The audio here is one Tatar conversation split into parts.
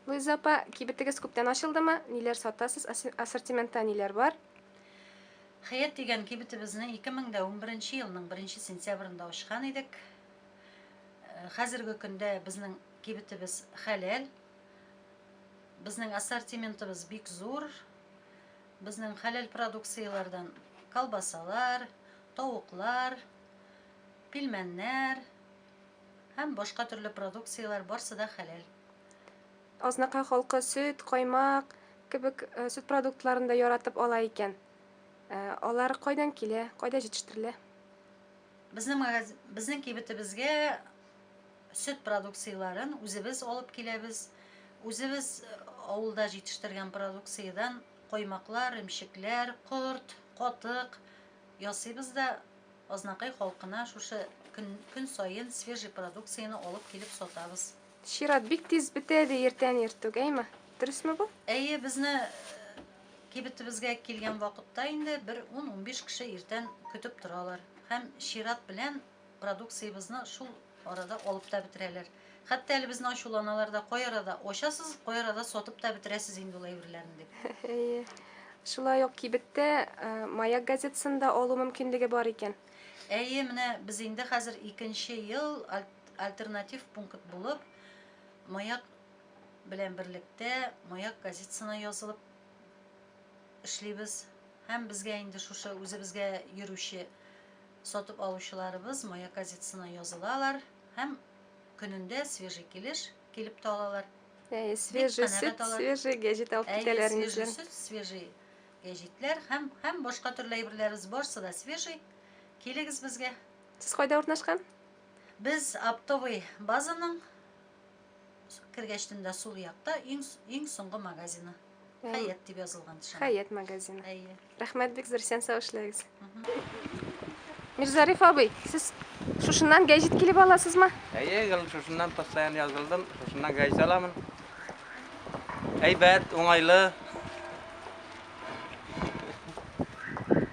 Луиза апа, кибетегез күптән ачылдымы? Ниләр сатасыз? Ассортиментта ниләр бар? Хәят дигән кибетебезне 2011 елның 1 сентябрында ачкан идек. Э, хәзерге көндә безнең кибетебез хәләл. Безнең ассортиментыбыз бик зур. Безнең хәләл продукцияләрдән колбасалар, тавыклар, пилмәннәр, Һәм башка төрле продукцияләр, барсы да хәләл. Азнакай халкы сөт, каймак кебек сөт продуктларын да яратып ала икән. Алар кайдан килә, кайда җитештерелә? Безнең магаз... безнең кибетебезгә сөт продукцияләрен үзебез алып киләбез. Үзебез авылда җитештергән продукциядән каймаклар, ремчекләр, корт, катык, Ясыйбыз да Азнакай халкына шушы көн көн саен свежий продукцияне алып килеп сатабыз. Чират бик тиз бетә, ди иртән ир түгәйме? Дөресме бу? Әйе, безне кибетебезгә килгән вакытта инде бер ун-унбиш кеше иртән көтеп торалар һәм чират белән Продукциябезне шул арада алып та бетерәләр. Хәтта әле безне ачуланалар да, кай арада ачасыз, кай арада сатып та бетерәсез инде ул әйберләрне дип. Әйе. Шулай ук кибеттә э, Маяк газетасын да алу мөмкинлеге бар икән. Әйе, менә без инде хәзер икенче ел альтернатив пункт булып Маяк белән берлектә Маяк газетасына язылып эшлибез. Һәм безгә инде шушы үзебезгә йөрүче Сатып алучыларыбыз мая газетасына язылалар һәм көнендә свежий килеш килеп тә алалар. Әйе, свежий сөт, свежий гәҗит алып китәләр инде. Әйе, свежий сөт, свежий гәҗитләр һәм һәм башка төрле әйберләребез барсы да свежий. Килегез безгә. Сез кайда урнашкан? Без оптовый базаның Кергәч төнлә сул якта иң, иң соңгы магазины. Хәят дип язылган шуның. Хәят магазины. Әйе. Рәхмәт бик зур, исән сау эшләгез. Мирзариф абый, сез шушыннан гәҗит килеп аласызмы? Әйе, гел шушыннан постоянно язылдым, шушыннан гәҗит аламын. Әйбәт, уңайлы.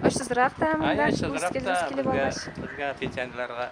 Очсызрак та, монда Әйе, шулай килеп алгач. Безгә пенсионерларга